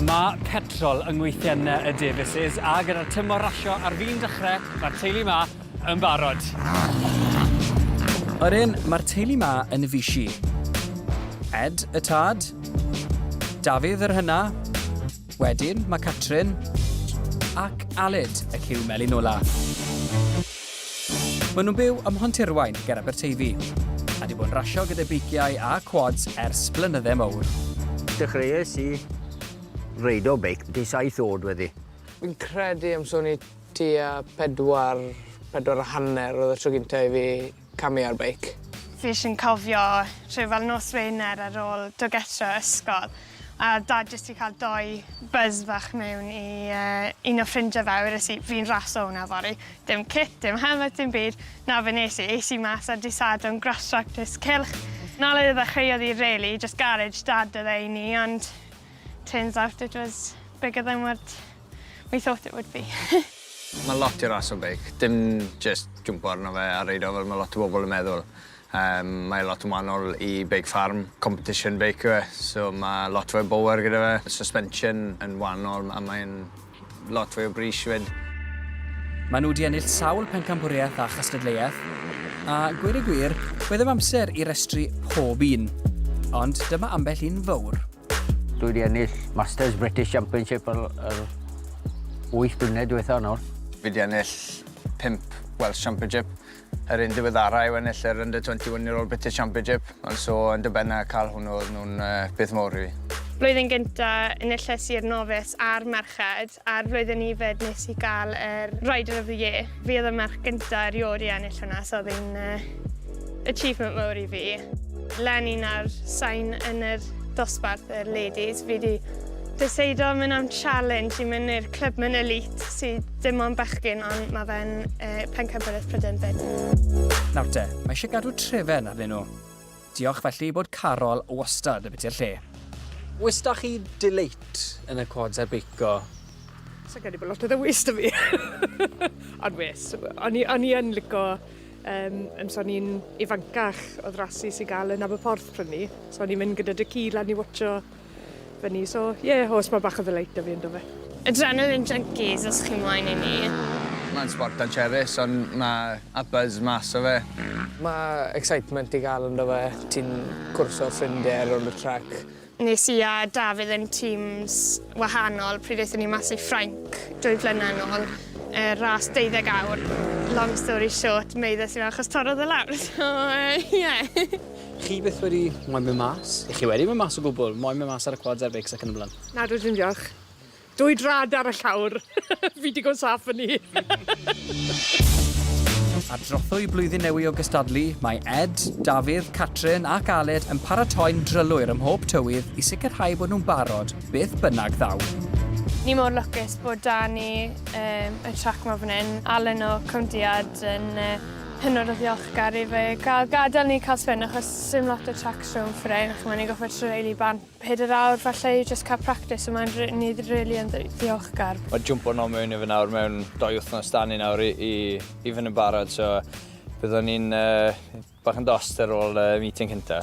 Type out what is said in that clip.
Mae petrol yng ngweithien y Davies's a gyda'r tymor rasio ar fin dechrau, mae'r teulu 'ma yn barod. Yr un, mae'r teulu 'ma yn fisi. Ed, y tad. Dafydd, yr hyna. Wedyn, mae Catrin. Ac Aled, y cyw melyn ola. Maen nhw'n byw ym Mhontirwain ger Aberteifi, a 'di bod yn rasio gyda beiciau a quads ers blynyddau mowr. Dechreuais i reidio beic byti saith oed wedi. Fi'n credu am swn i tua pedwar, pedwar a hanner oedd y tro gynta i fi camu ar beic. Fi jyst yn cofio rhyw fel nos Wener ar ôl dod getre o ysgol, A oedd Dad jyst 'di cael dou buzz fach mewn i un o ffrindiau fe a wedes i, 'fi'n rasio hwnna fory'. Dim cit, dim helmet, dim byd. Na, be nes i, es i mas ar dydd Sadwrn, grass track disc cylch. Na le i ddechreu oedd hi rili, jyst garej Dad oedd e i ni, ond turns out it was bigger than what we thought it would be. Mae'n lot i rasio beic, dim jyst jwmpo arno fe a reidio fel ma' lot o bobl yn meddwl. Yym mae lot yn wahanol i beic ffarm, competition beic yw e so ma' lot fwy o bower gyda fe, suspension yn wahanol a mae'n lot fwy o bris hefyd. Maen nhw wedi ennill sawl pencampwriaeth a chystadleuaeth, a gweud y gwir, mae ddim amser i restru pob un, ond dyma ambell un fowr. Dwi wedi ennill Masters British Championship yr yr wyth blynedd diwetha' nawr. Fi 'di ennill pump Welsh Championship. Yr un diweddara yw ennill yr Under 21 Year Old British Championship, ond so yn dy ben a cael hwnnw oedd nhw'n beth mowr i fi. Blwyddyn gyntaf enillais i'r Novice a'r Merched, a'r flwyddyn yfed nes i gael yr Rider of the Year. Fi oedd y merch gyntaf erioed i ennill hwnna, so oedd hi'n achievement mowr i fi. Leni 'na'r sain yn yr dosbarth y ladies, fi 'di Deuseida mynd am challenge i mynd i'r clwb mewn elite sy dim ond bechgyn ond mae fe'n uh, pencampwriaeth Prydain fyd. Nawr te, mae eisiau gadw trefen arnyn nhw. Diolch felly bod Carol wastad yn biti'r lle. Oes da chi delate yn y quads ar beico? Sa'n credu bod lot o ddewis da fi. Ond wes, o'n i, on i yn lico, um, yn so ni'n ifancach, oedd rasi sy'n gael yn Aberporth prynu. So o'n i'n mynd gyda dy ci lan i watcho fyny, so ie, yeah, os mae bach o ddileit da fi yn dofe. Adrenaline junkies os chi'n mlaen i ni. Mae'n sport ancherus, ond mae a buzz mas o fe. Mae excitement i gael yn dofe, ti'n cwrso ffrindiau ar ôl y trac. Nes i a Dafydd yn teams wahanol pryd aethon ni mas i Ffrainc dwy flynedd yn ôl, y ras 12 awr. Long story short, meuddes i fe achos torrodd e lawr, so ie. Chi byth wedi moyn mynd mas? Ych chi wedi mynd mas o gwbl? Moyn mynd mas ar y quads a'r beics ac yn y blaen? Na, dwi ddim diolch. Dwy drad ar y llawr. Fi digon saff yn ni. Ar drothwy Blwyddyn Newy o gystadlu, mae Ed, Dafydd, Catrin ac Aled yn paratoi'n drylwyr ym mhob tywydd i sicrhau bod nhw'n barod beth bynnag ddaw. Ni mor lwcus bod 'da ni y trac 'ma fan hyn. Alun o Cwmddiad yn hynod o ddiolchgar i fe cael gadael ni cael spin achos sim lot o tracks rhwng Fferein a ch'mo' ni'n gorfod treuly bant pedair awr falle i jyst cael practis a mae'n r- ni rili yn ddi- ddiolchgar. Mae jwmpo nol mewn i fe nawr mewn dou wythnos 'da ni nawr i i i fynd yn barod so byddwn ni'n yy bach yn dost ar ôl y meeting cynta.